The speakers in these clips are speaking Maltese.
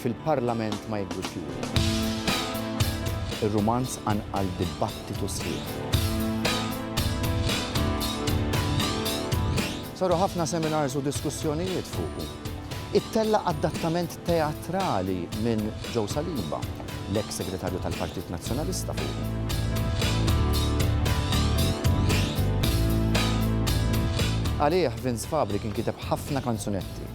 fil-Parlament ma jidhrux juri. Ir-rumanz qanqal dibattitu sħiħ. Saru ħafna seminars u diskussjonijiet fuqu. Ittella' adattament teatrali minn Joe Saliba, l-eks Segretarju tal-Partit Nazzjonalista fuqu. Għalih Vince Fabri kien kiteb ħafna kanzunetti.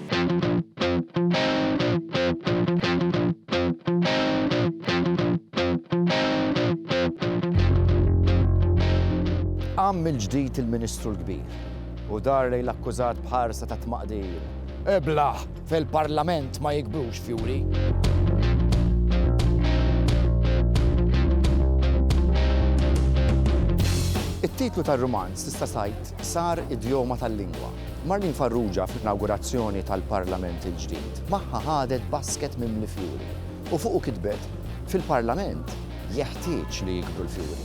Qam mill-ġdid il-Ministru l-Kbir u dar lejn l-akkużat b'ħarsa ta' tmaqdir. Iblah! Fil-Parlament ma jikbrux fjuri. It-titlu tar-rumanz tista' tgħid sar idjoma tal-lingwa. Marlene Farrugia fl-inawgurazzjoni tal-Parlament il-ġdid magħha ħadet basket mimli fjuri u fuqu kitbet, Fil-Parlament jeħtieġ li jikbru l-fjuri.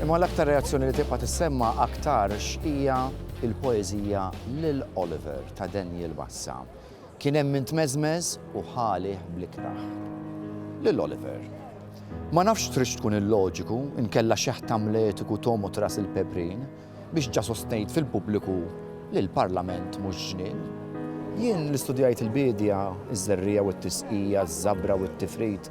Imma l-aktar reazzjoni li tibqa' tissemma' aktarx hija il-poeżija Lil Oliver ta' Daniel Bassa, kien hemm min tmeżmeż u ħa għalih bl-ikrah. Lil Oliver. Ma nafx tridx tkun illoġiku, inkella xeħ t'Amletiku tgħum u tras il-pebrin, biex ġa sostnejt fil-pubbliku li l-Parlament mhux ġnien. Jien li studjajt il-biedja, iż-żerriegħa u t-tisqija, iż-żabra u t-tifrid,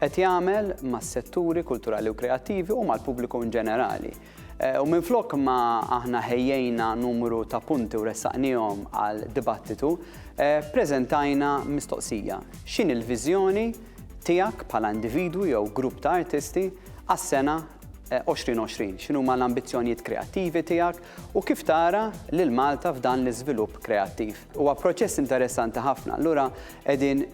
qed jagħmel mas-setturi kulturali u kreattivi u mal-pubbliku in ġenerali. U minflok ma aħna ħejjejna numru ta' punti u ressaqnihom għal dibattitu, preżentajna mistoqsija, x'inhi l-viżjoni tiegħek bħala individwu jew grupp ta' artisti għas-sena 2020? X'inhuma l-ambizzjonijiet kreattivi tiegħek? U kif tara lil Malta f'dan l-iżvilupp kreattiv? Huwa proċess interessanti ħafna, allura qegħdin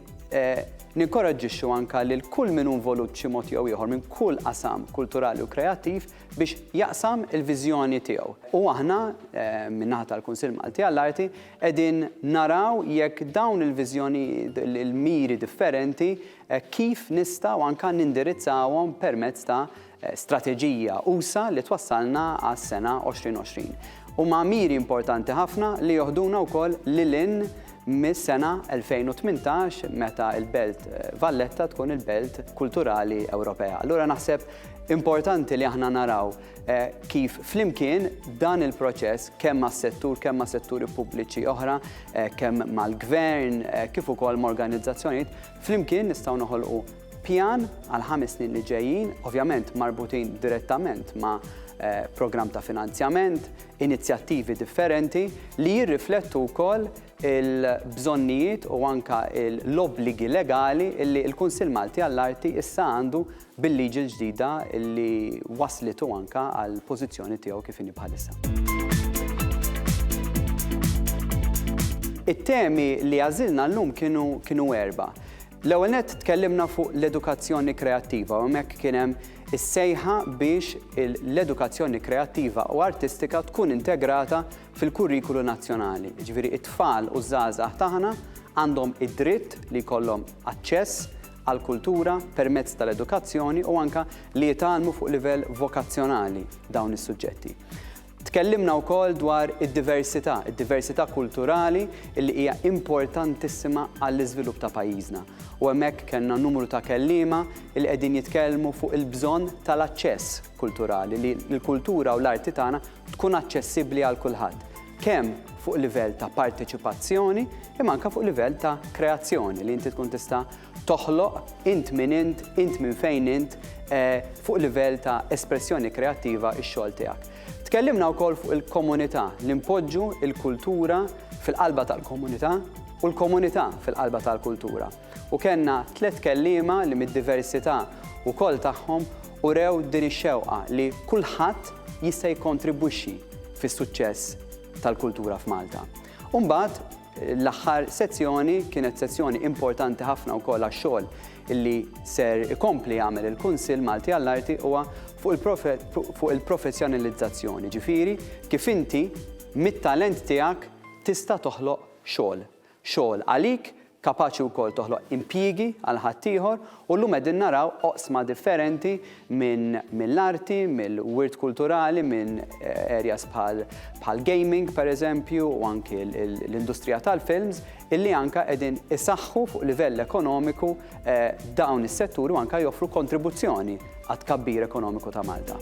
ninkoraġġixxu anke lil kull min hu involut b'xi mod jew ieħor minn kull qasam kulturali u kreattiv biex jaqsam il-viżjoni tiegħu. U aħna, min-naħa tal-Kunsill Malti għall-Arti, qegħdin naraw jekk dawn il-viżjonijiet, il-miri differenti, kif nistgħu anke nindirizzawhom permezz ta' strateġija usa' li twassalna għas-sena 2020. Huma miri importanti ħafna li joħduna wkoll lil hinn mis-sena 2018 meta l-Belt Valletta tkun il-Belt Kulturali Ewropea. Allura naħseb importanti li aħna naraw kif flimkien dan il-proċess kemm mas-settur, kemm ma' setturi pubbliċi oħra, kemm mal-gvern, kif ukoll ma' organizzazzjonijiet, flimkien nistgħu noħolqu Pjan għall-ħames snin li ġejjin, ovvjament marbutin direttament ma' programm ta' finanzjament, inizjattivi differenti li jirriflettu wkoll il-bżonnijiet u anke l-obbligi legali li l-Kunsill Malti għall-Arti issa għandu bil-liġi l-ġdida li wasslitu anke għall-pożizzjoni tiegħu kif inhi bħalissa. It-temi li għażilna llum kienu erbgħa. L-ewwel nett tkellimna fuq l-edukazzjoni kreattiva u hemmhekk kien hemm is-sejħa biex l-edukazzjoni kreattiva u artistika tkun integrata fil-kurrikulu nazzjonali. Jiġifieri t-tfal u ż-żgħażagħ tagħna għandhom id-dritt li jkollhom aċċess għall-kultura permezz tal-edukazzjoni u anke li jitgħallmu fuq livell vokazzjonali dawn is-suġġetti. Tkellimna wkoll dwar id-diversità, id-diversità kulturali li hija importantissima għall-iżvilupp ta' pajjiżna. U hemmhekk kellna numru ta' kelliema li qegħdin jitkellmu fuq il-bżonn tal-aċċess kulturali, li l-kultura u l-arti tagħna tkun aċċessibbli għal kulħadd, kemm fuq livell ta' parteċipazzjoni imma anke fuq livell ta' kreazzjoni li inti tkun tista' toħloq, int min int, int minn fejn int, fuq livell ta' espressjoni kreattiva x-xogħol tiegħek. Tkellimna wkoll fuq il-komunità, li npoġġu l-kultura fil-qalba tal-komunità u l-komunità fil-qalba tal-kultura. U kellna tliet kelliema li mid-diversità wkoll tagħhom urew din ix-xewqa li kulħadd jista' jikkontribwixxi fis-suċċess tal-kultura f'Malta. U mbagħad L-aħħar sezzjoni kienet sezzjoni importanti ħafna wkoll għax-xogħol li ser ikompli jagħmel il-Kunsill Malti għall-Arti huwa fuq il-professjonalizzazzjoni, ġifieri kif inti mit-talent tiegħek tista' toħloq xogħol. Xogħol għalik, kapaċi wkoll toħloq impjiegi għal ħaddieħor U llum qegħdin naraw oqsma differenti minn mill-arti, mill-wirt kulturali, minn areas bħal bħal gaming per eżempju u anki l-industrija tal-films illi anka qegħdin isaħħu fuq livell ekonomiku dawn is-setturi u anka joffru kontribuzzjoni għat-tkabbir ekonomiku ta' Malta.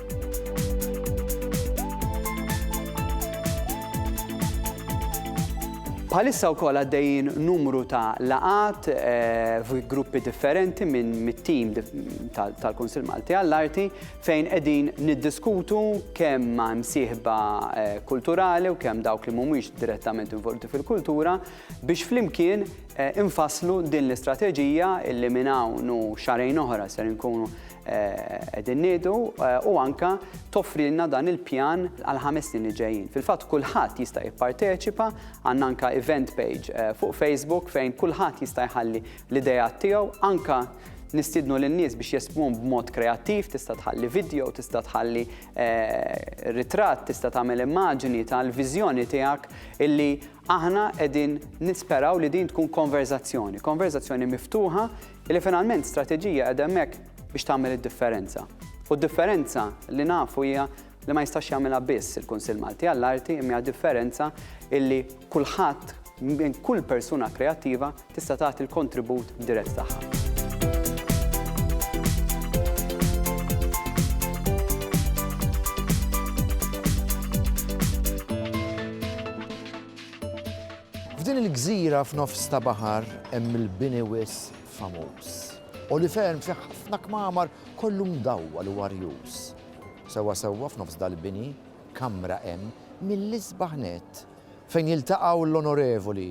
Bħalissa wkoll għaddejjin numru ta' laqat eh, fi gruppi differenti minn mit-tim tal-Kunsil Malti għall-Arti fejn qegħdin niddiskutu kemm ma' msieħba eh, kulturali u kemm dawk li mhumiex direttament involuti fil-kultura biex flimkien infasslu din l-istrateġija illi minn hawn u xahrejn oħra ser inkunu qegħdin ngħidu u anke toffrilna dan il-pjan għal ħames snin li ġejjin. Fil-fatt kulħadd jista' jipparteċipa, għandna anke event page fuq Facebook fejn kulħadd jista' jħalli l-ideat tiegħu, anke nistiednu lin-nies biex jespmun b'mod kreattiv, tista' tħalli video, tista' tħalli ritratt, tista' tagħmel immaġini tal-viżjoni tiegħek illi Aħna qegħdin nisperaw li din tkun konverżazzjoni, konverżazzjoni miftuħa li finalment strateġija qiegħda hemmhekk biex tagħmel id-differenza. U d-differenza li nafu hija li ma jistax jagħmilha biss il-Kunsill Malti għall-Arti imma hija differenza illi kulħadd minn kull persuna kreattiva tista' tagħti l-kontribut dirett tagħha. F'din il-gżira f'nofs ta' baħar hemm il-bini wis famuż. Għoli ferm fi ħafna kmamar kollu mdawwal u arjuż. Sewwa sewwa f'nofs dal-bini kamra hemm mill-isbaħ nett fejn jiltaqgħu l-onorevoli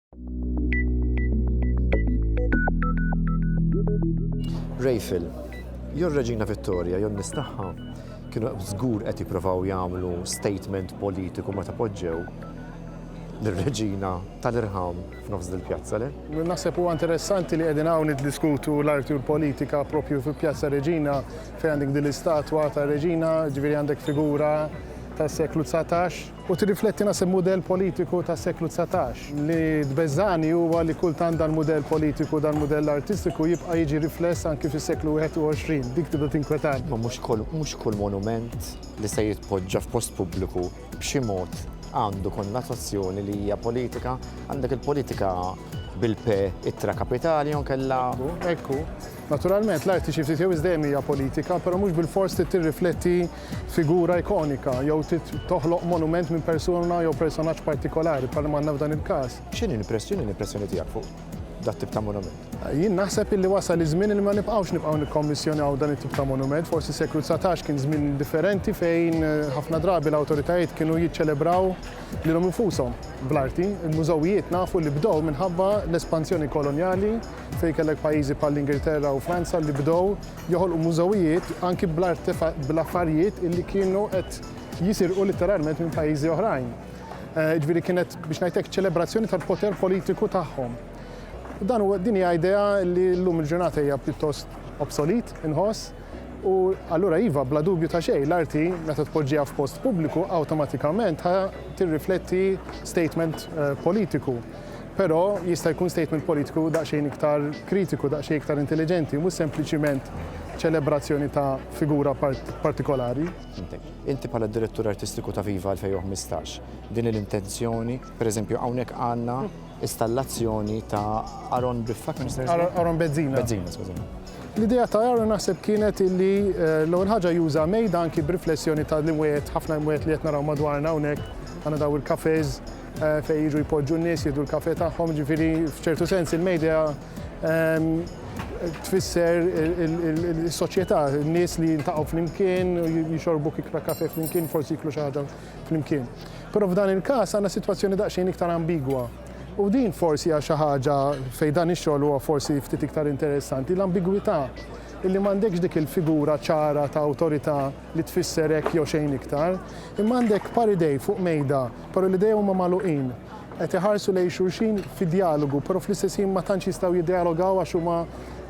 Rejfil, jew Reġina Vittoria, jew nis tagħha kienu żgur qed jippruvaw jagħmlu statement politiku meta poġġew l-reġina tal-irħam f'nofs dil-pjazza le? Naħseb huwa interessanti li qegħdin hawn niddiskutu l-arti u l-politika propju fil-pjazza Reġina fejn għandek din l-istatwa ta' Reġina, ġifieri għandek figura tas-seklu 19 U tirrifletti naqs il-mudell politiku tas-seklu dsatax. Li tbeżżagħni huwa li kultant dal-mudell politiku, dal-mudell artistiku jibqa' jiġi rifless anki fis-seklu 21. Dik tibda tinkwetani. Ma mhux kull, mhux kull monument li se jitpoġġa f'post pubbliku b'xi mod għandu konnotazzjoni li hija politika. Għandek il-politika bil-P ittra kapitali jew inkella. Ekku, ekku. Naturalment l-arti xi ftit jew iżdejjem hija politika, però mhux bilfors trid tirrifletti figura ikonika jew trid toħloq monument minn persuna jew personaġġ partikolari bħalma għandna f'dan il-każ. X'inhi l-impressjoni, l-impressjoni tiegħek fuq dat-tip ta' monument? Jien naħseb illi wasal iż-żmien illi ma nibqgħux nibqgħu nikkommissjonaw dan it-tip ta' monument. Forsi s-seklu dsatax kien żmien differenti fejn ħafna drabi l-awtoritajiet kienu jiċċelebraw lilhom infushom bl-arti. Il-mużewijiet nafu li bdew minħabba l-espansjoni kolonjali fejn kellek pajjiżi bħall-Ingilterra u Franza li bdew joħolqu mużewijiet anki bl-affarijiet li kienu qed jisirqu litteralment minn pajjiżi oħrajn. Eh, ġifieri kienet biex ngħidlek ċelebrazzjoni tal-poter politiku tagħhom. Dan huwa din hija idea li llum il-ġurnata hija pjuttost obsolit inħoss u allura iva bla dubju ta' xejn l-arti meta tpoġġiha f'post pubbliku awtomatikament tirrifletti statement eh, politiku. Però jista' jkun statement politiku daqsxejn iktar kritiku, daqsxejn iktar intelliġenti, mhux sempliċiment ċelebrazzjoni ta' figura partikolari. Inti bħala d-Direttur Artistiku ta' Viva 2015, din l-intenzjoni, pereżempju hawnhekk għandna installazzjoni ta' Aaron Biffa, kemm jista' jismu? Aaron Bezzina. Bezzina, skużani. L-idea ta' Aaron naħseb kienet illi eh, l-ewwel ħaġa juża mejda anki b'riflessjoni ta' l-imwiet, ħafna imwiet li qed naraw madwarna hawnhekk, għandna daw il-kafeż, eh, fejn jiġu jpoġġu n-nies jieħdu l-kafe tagħhom, ġifieri f'ċertu sens il-media ehm, tfisser il-soċjetà, n-nies li jintaqgħu flimkien, jixorbu kikra kafe flimkien, forsi jiklu xi ħaġa flimkien. Però f'dan il-każ għandna sitwazzjoni daqsxejn iktar ambigwa. U din forsi għal xi ħaġa fejn dan ix-xogħol huwa forsi ftit iktar interessanti, l-ambigwità illi m'għandekx dik il-figura ċara ta' awtorità li tfisser hekk jew xejn iktar, imma għandek par idej fuq mejda, però l-idejhom huma magħluqin, qed iħarsu lejn xulxin fi djalogu, però fl-istess ħin ma tantx jistgħu jiddjalogaw għax huma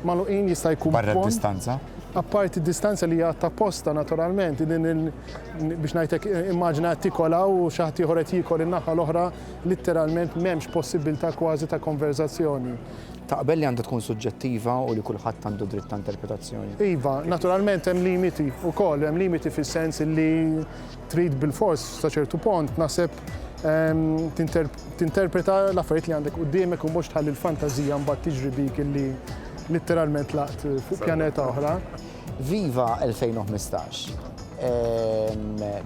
magħluqin, jista' jkun pont. Barra d-distanza? Apparti d-distanza li hija għadd apposta naturalment, biex ngħidlek immaġina qed tikol hawn u xi ħadd ieħor qed jiekol in-naħa l-oħra, litteralment m'hemmx possibbiltà kważi ta' konverżazzjoni. Taqbel li għandha tkun suġġettiva u li kulħadd għandu dritt ta' interpretazzjoni? Iva, naturalment hemm limiti wkoll, hemm limiti fis-sens li trid bilfors sa ċertu pont naħseb tinterpreta l-affarijiet li għandek quddiemek u mhux tħalli l-fantażija mbagħad tiġri bik illi litteralment tlaqt fuq pjaneta oħra. Viva 2015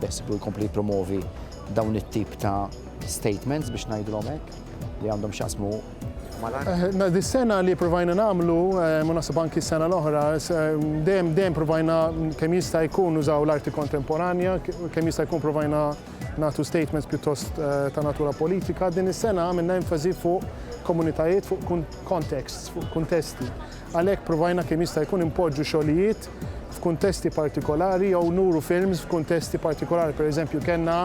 beħsiebu jkompli jippromovi dawn it-tip ta' statements biex ngħidilhom hekk li għandhom x'jaqsmu Dis-sena li provajna nagħmlu, u naħseb anki s-sena l-oħra, dejjem dejjem provajna kemm jista' jkun nużaw l-arti kontemporanja, kemm jista' jkun provajna nagħtu statements pjuttost ta' natura politika. Din is-sena għamilna enfasi fuq komunitajiet, fuq contexts, fuq kuntesti. Għalhekk provajna kemm jista' jkun impoġġu xogħlijiet f'kuntesti partikolari jew nuru films f'kuntesti partikolari. Pereżempju kellna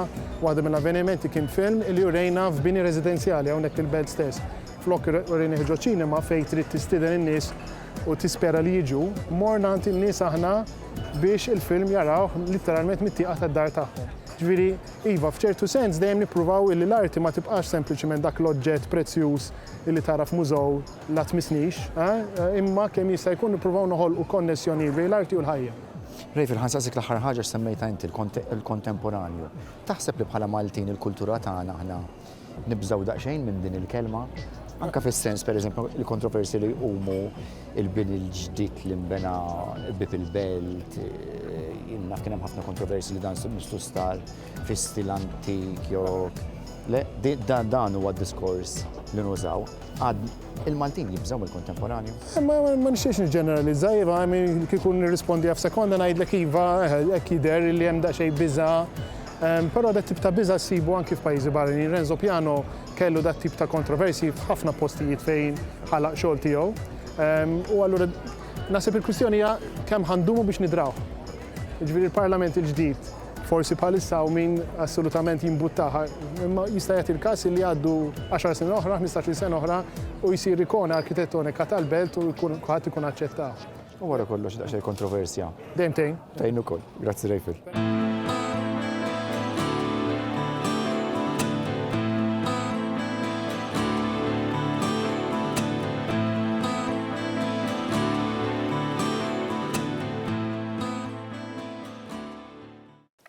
waħda mill-avvenimenti kien film li urejna f'bini residenzjali hawnhekk fil-Belt stess. Flok urejnih ġo ċinema fejn trid tistieden in-nies u tispera li jiġu, morna għand in-nies aħna biex il-film jarawh litteralment mit-tieqa tad-dar tagħhom. Ġifieri, iva, f'ċertu sens dejjem nippruvaw illi l-arti ma tibqax sempliċiment dak l-oġġett prezzjuż illi tara f'mużew, La tmissnix, imma kemm jista' jkun nippruvaw noħolqu konnessjonijiet bejn l-arti u l-ħajja. Rayf il-Ħan saqsiek l-aħħar ħaġa x'semmejtha inti, il-kontemporanju. Taħseb li bħala Maltin il-kultura tagħna aħna nibżgħu daqsxejn minn din il-kelma? Anke fis-sens, pereżempju, il-kontroversji li jqumu, il-bini l-ġdid li nbena qrib il-belt, jien naf kien hemm ħafna kontroversji li dan missu star. fi stil antik jew le, dan huwa d-diskors li nużaw. Għad il-Maltin jibżgħu mill-kontemporanju? Ma nixtiex niġġeneralizza, iva, kieku nirrispondi għaf sekonda ngħidlek iva, hekk jidher li hemm daqsxejn biża' Ehm, però dat tip ta' biża sibu anki f'pajjiżi barranin. Renzo Piano kellu dat tip ta' kontroversi f'ħafna postijiet fejn ħalaq xogħol tiegħu. Ehm, u allura nasib il-kwistjoni hija kemm ħandumu biex nidraw. Ġifieri il-Parlament il-ġdid Forsi bħalissa hawn min assolutament jimbuttaha, imma jista' jagħti l-każ li jgħaddu għaxar snin oħra, ħmistax-il sena oħra u jsir ikona arkitetonika tal-belt u jkun kulħadd ikun aċċettah. U wara kollox daqsxejn kontroversja. Dejjem tgħin. Tgħin ukoll. Grazzi Rejfil.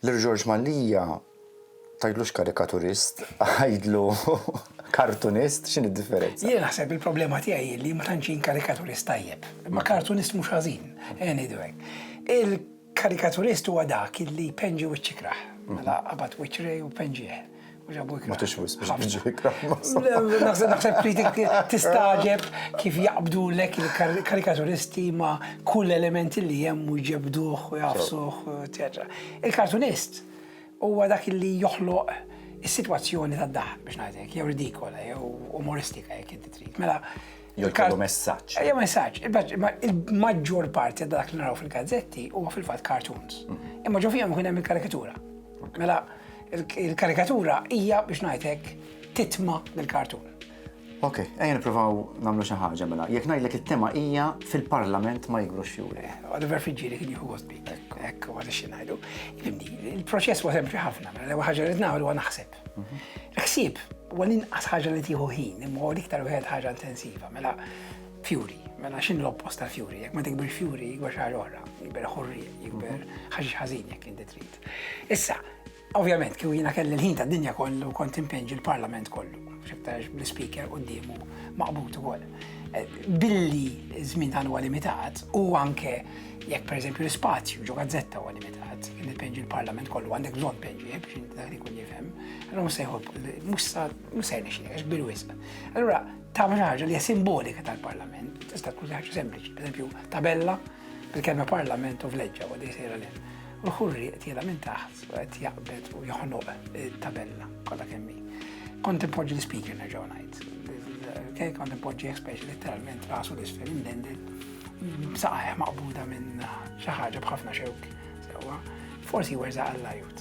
Lil George Mallia tgħidlux karikaturist, għidlu kartunist, x'inhi d-differenza? Jiena naħseb il-problema tiegħi hi li ma tantx jien karikaturist tajjeb, imma kartunist mhux ħażin, ejja ngħidu hekk. Il-karikaturist huwa dak li jpenġi wiċċ ikrah, mela qabad wiċċ Ray u penġieh. Matux wisq Naħseb kritik tistaġeb kif jaqbdu lek il-karikaturisti ma kull elementi li hemm u jġebduh u jafsuh, eċetera. Il-kartunist huwa dak li joħloq is-sitwazzjoni tad-daħk biex ngħidlek, jew ridikola, jew umoristika jekk inti trid. Mela, Jew jkollu messaġġ. Ejja messaġġ, il-maġġor parti ta' dak li naraw fil-gazzetti huwa fil-fatt cartoons. Mhm. Imma ġo fihom ikun hemm il-karikatura. Mela il-karikatura hija biex ngħidlek titma mill-kartun. Ok, ejja nippruvaw nagħmlu xi ħaġa mela. Jekk ngħidlek it-tema hija fil-Parlament ma jigrux fjuri. Oliver Fiġġieri kien jieħu għosbi. Ekk, għad xi ngħidu. Il-proċess huwa sempliċi ħafna, mela l-ewwel ħaġa li nagħmlu huwa naħseb. Ħsieb, huwa l-inqas ħaġa li tieħu ħin, imma huwa l-iktar wieħed ħaġa intensiva. Mela, fjuri, mela x'in l-oppost tal-fjuri, jekk ma tikbir fjuri jikber xi ħaġa oħra, jikber ħurri, jikber mhm. ħaġa ħażin jekk inti trid. Issa, ovvjament kieku jiena kelli l-ħin tad-dinja kollu kont impenġi l-Parlament kollu, x'iktarx bl-speaker quddiemu maqbut ukoll. Eh, billi żmien dan huwa limitat u anke Jekk pereżempju l-ispazju ġo gazzetta huwa limitat, li tpeġġi l-Parlament kollu għandek bżonn tpeġġi biex dak ikun jifhem, allura mhux se jħobb mhux se jnexxilek għax kbir wisq. Allura tagħmel xi ħaġa li hija simbolika tal-Parlament, tista' tkun ħaġa sempliċi, pereżempju tabella bil-kelma Parlament u vleġġa u dej sejra lil. U l-ħurri qed minn taħt u qed jaqbed u joħnoq eh, tabella kollha kemm hi. Kont impoġġi l-speaker nerġgħu ngħid. Kont impoġġi speċi letteralment rasu l-isfel indended B'saħħ maqbuda minn xi ħaġa b'ħafna xewk. Sewwa, forsi werżaq għall-ajut.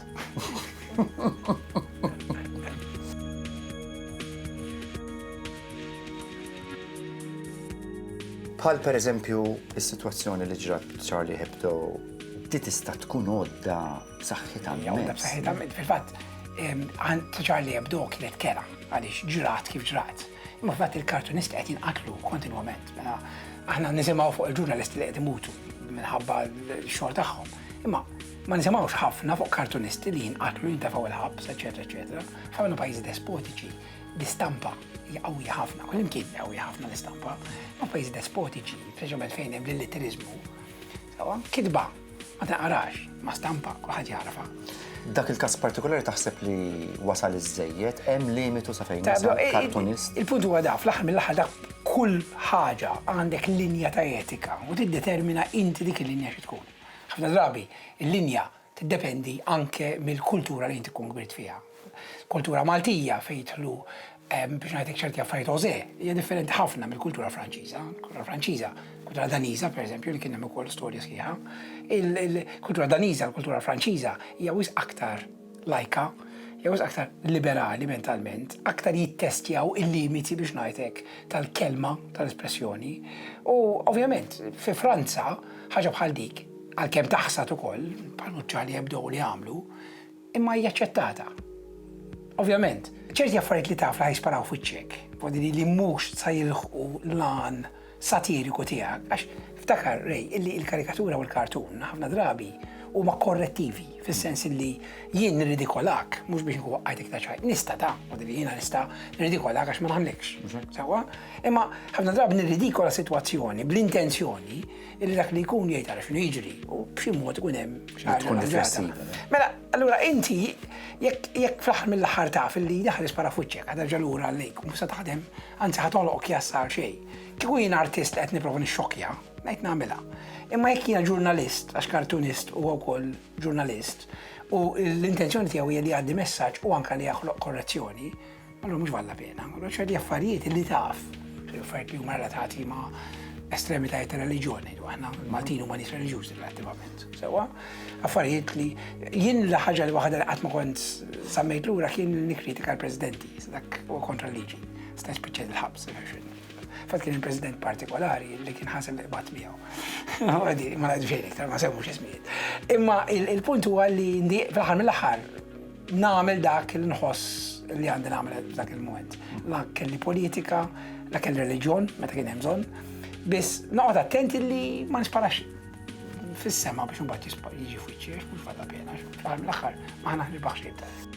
Bħal per eżempju, is-sitwazzjoni li ġrat Charlie Hebdo, di tista' tkun għodda b'saħħitha Għodda b'saħħitha fil-fatt, Charlie Hebdo kienet kera għaliex ġrat kif ġrat. Imma f'fatt il-kartunisti qed jinqatlu kontinwament. Mela aħna nisimgħu fuq il-ġurnalisti li qed imutu minħabba l-xogħol tagħhom. Imma ma nisimgħux ħafna fuq kartunisti li jinqatlu jintefgħu il-ħabs, eċetera, eċetera. Ħafna pajjiżi despotiċi l-istampa jgħawja ħafna, kull imkien jgħawja ħafna l-istampa, ma' pajjiżi despotiċi, speċjalment fejn hemm l-litterizmu. Kitba Ma taqrax, ma stampa, kulħadd jagħrafha. Dak il-każ partikolari taħseb li wasal iż-żejjed, hemm limitu sa fejn wasal kartunist. Il-punt huwa daf, l-aħħar mill-aħħar dak kull ħaġa għandek linja ta' etika u tiddetermina inti dik il-linja xi tkun. Ħafna drabi, il-linja tiddependi anke mill-kultura li inti tkun kbirt fiha. Kultura Maltija fejn jidħlu Biex ngħidlek ċerti affarijiet José hija differenti ħafna mill-kultura Franċiża. Kultura Franċiża, kultura Daniża pereżempju li kien hemm ukoll storja sħiħa. Il-kultura Daniża, l-kultura Franċiża hija wisq aktar lajka, jew aktar liberali mentalment, aktar jittestjaw il-limiti biex ngħidlek tal-kelma, tal-espressjoni. U ovvjament, fi Franza, ħaġa bħal dik, għalkemm taħsad ukoll, bħal muċċali jibdew li jagħmlu, Imma hija aċċettata. Ovvjament, ċerti affarijiet li taf li ħa jisparaw f'wiċċek, f'għodili li mhux sa jilħqu l-għan satiriku tiegħek, għax ftakar, Ray, illi il-karikatura u l-kartun ħafna drabi huma korrettivi, fis-sens illi jien nirridikolak, mhux biex nkun waqqajt iktar ċajt, nista' ta' għodili jiena nista' nirridikolak għax ma nagħmlekx. Sewwa? Imma ħafna drabi nirridikola sitwazzjoni bl-intenzjoni Illi dak li jkun jgħid ara x'inhu jiġri u b'xi mod ikun hemm xi ħaġa. Tkun riflessiva. Mela, allura inti jekk jekk fl-aħħar mill-aħħar taf illi daħlet spara f'wiċċek qed terġa' lura għalik u mhux se taħdem, anzi ħa togħloq kjassa għal xejn. Kieku jiena artist li qed nipprova nixxokkja, ngħid nagħmilha. Imma jekk jiena ġurnalist, għax kartunist huwa wkoll ġurnalist, u l-intenzjoni tiegħu hija li jgħaddi messaġġ u anke li jaħloq korrezzjoni, Allura mhux valla pena, allura ċerti affarijiet li taf, affarijiet li huma relatati ma' estremitajiet ta' reliġjoni, aħna Maltin huma nies reliġjużi relattivament. Sewa, affarijiet li jien l ħaġa li waħda li qatt ma kont sammejt lura kien nikkritika l-presidenti, dak u kontra l-liġi, sta spiċċa il-ħabs. Fatt kien il-president partikolari li kien ħasem li qbad miegħu. Ma ngħidx iktar ma semmux ismijiet. Imma il-punt huwa li fl-aħħar mill-aħħar Nagħmel dak li nħoss li għandi nagħmel f'dak il-mument. La kelli politika, la kelli reliġjon meta kien hemm bżonn. Biss noqgħod attenti li ma nisparax fis-sema biex imbagħad jiġi fuċċiex mhux fada pena, fl-aħħar ma ħnaħ nirbaħ xejn.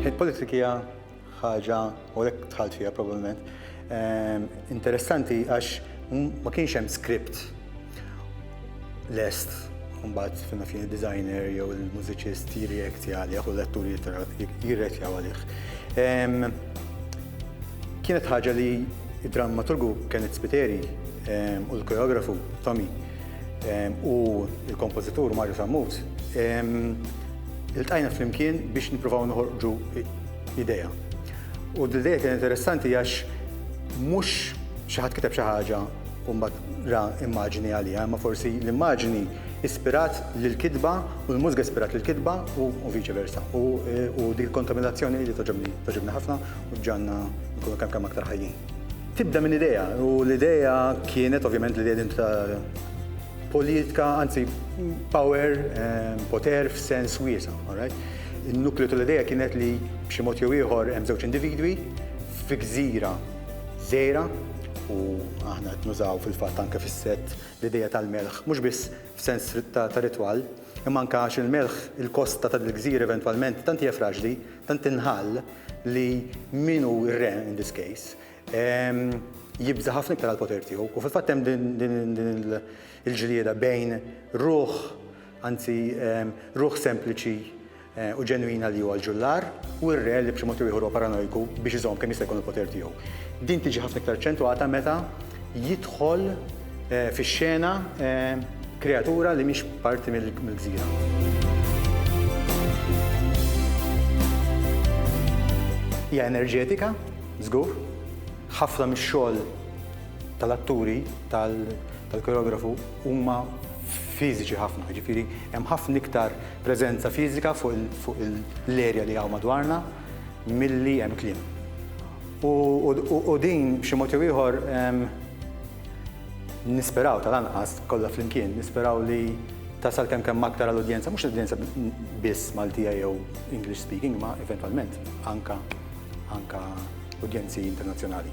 Il-politika hija ħaġa u lek tħalt fiha probabbilment ehm, interessanti għax ma kienx hemm script lest mbagħad fina fini designer jew il-mużiċist jirreaktja għalih u l-attur jirreaktja għalih. Ehm, kienet ħaġa li Id-drammaturgu Kenneth Spiteri u l-koreografu Tommy u l-kompożitur Mario Sammut iltqajna flimkien biex nippruvaw noħorġu idea. U d-idea kien interessanti għax mhux xi ħadd kiteb xi ħaġa u mbagħad ra immaġni għaliha, imma forsi l-immaġni ispirat lill-kitba u l-mużika ispirat lill-kitba u viċi versa. U dik kontaminazzjoni li toġobni ħafna u ġġagħalna nkunu kemm kemm aktar ħajjin. Tibda minn idea u l-idea kienet ovvjament l-idea din ta' politika, anzi power, ehm, poter f'sens wiesa, alright? Il-nukleju tal-idea kienet li b'xi mod jew ieħor hemm żewġ individwi fi gżira żejra u aħna qed nużaw fil-fatt anke fis-set l-idea tal-melħ, mhux biss f'sens ta' ritwal, imma anke għax il-melħ il-kosta tal-gżir eventwalment tant hija fraġli Tant inħall li min hu r-re in this case jibża' ħafna iktar għall-poter tiegħu. U fil-fatt hemm din il-ġlieda bejn ruħ, anzi ruħ sempliċi eh, u ġenwina li huwa l-ġullar u r-re li b'xi mod ieħor huwa paranojku biex iżomm kemm jista' jkun il-poter tiegħu. Din tiġi ħafna iktar ċentwata meta jidħol fix-xena kreatura li mhix parti mill-gżira. Hija enerġetika, żgur, ħafna mix-xogħol tal-atturi, tal-koreografu huma fiżiċi ħafna, jiġifieri hemm ħafna iktar preżenza fiżika fuq l-erja li hawn madwarna. milli hemm kliem. U din b'xi mod jew ieħor nisperaw tal-anqas kollha flimkien, nisperaw li tasal kemm kemm aktar għall-udjenza, mhux l-udjenza biss Maltija jew English speaking, ma eventwalment anka anka udjenzi internazzjonali.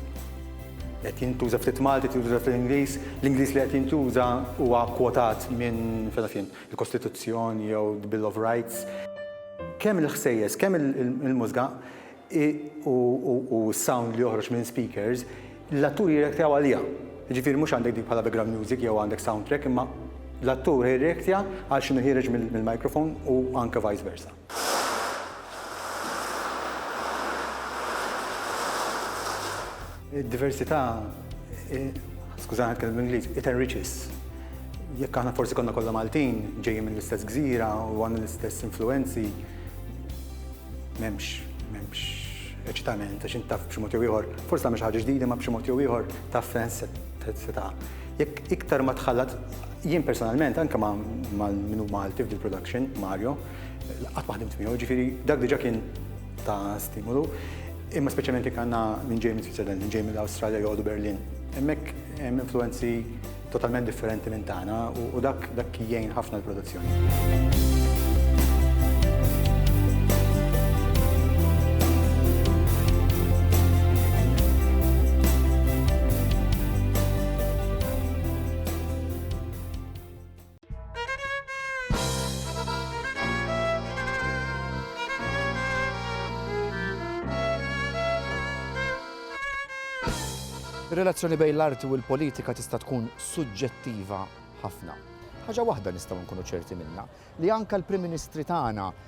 Qed jintuża ftit Malti, tintuża fl-Ingliż, l-Ingliż li qed jintuża huwa kwotat minn fejn il-Kostituzzjoni jew the Bill of Rights. Kemm il-ħsejjes, kemm il-mużga u s-sound li joħroġ minn speakers, l-atturi jirreaktjaw għaliha. Jiġifieri mhux għandek dik bħala background music jew għandek soundtrack imma l-attur jirreaktja għal x'inhu ħiereġ mill-microphone u anke vice versa. Id-diversità, skużani ħadd kellim Ingliż, it enriches. Jekk aħna forsi konna kollha Maltin, ġejjin minn l-istess gżira u għandna l-istess influenzi, m'hemmx, m'hemmx eċitament, għax intaf b'xi mod jew ieħor, forsi tagħmel xi ħaġa ġdida ma b'xi mod jew ieħor taf fejn se ta' jekk iktar ma tħallat, jien personalment, anke ma' minu Malti f'dil production, Mario, Qatt ma ħdimt miegħu, ġifieri dak diġà kien ta' stimulu. Imma speċjalment jekk għandna minn ġej minn Switzerland, minn ġej minn Awstralja joqogħdu Berlin. Hemmhekk hemm influenzi totalment differenti minn tagħna u dak dak jgħin ħafna l-produzzjoni. Ir-relazzjoni bejn l-arti u l-politika tista' tkun suġġettiva ħafna. Ħaġa waħda nistgħu nkunu ċerti minnha li anke l-Prim Ministri tagħna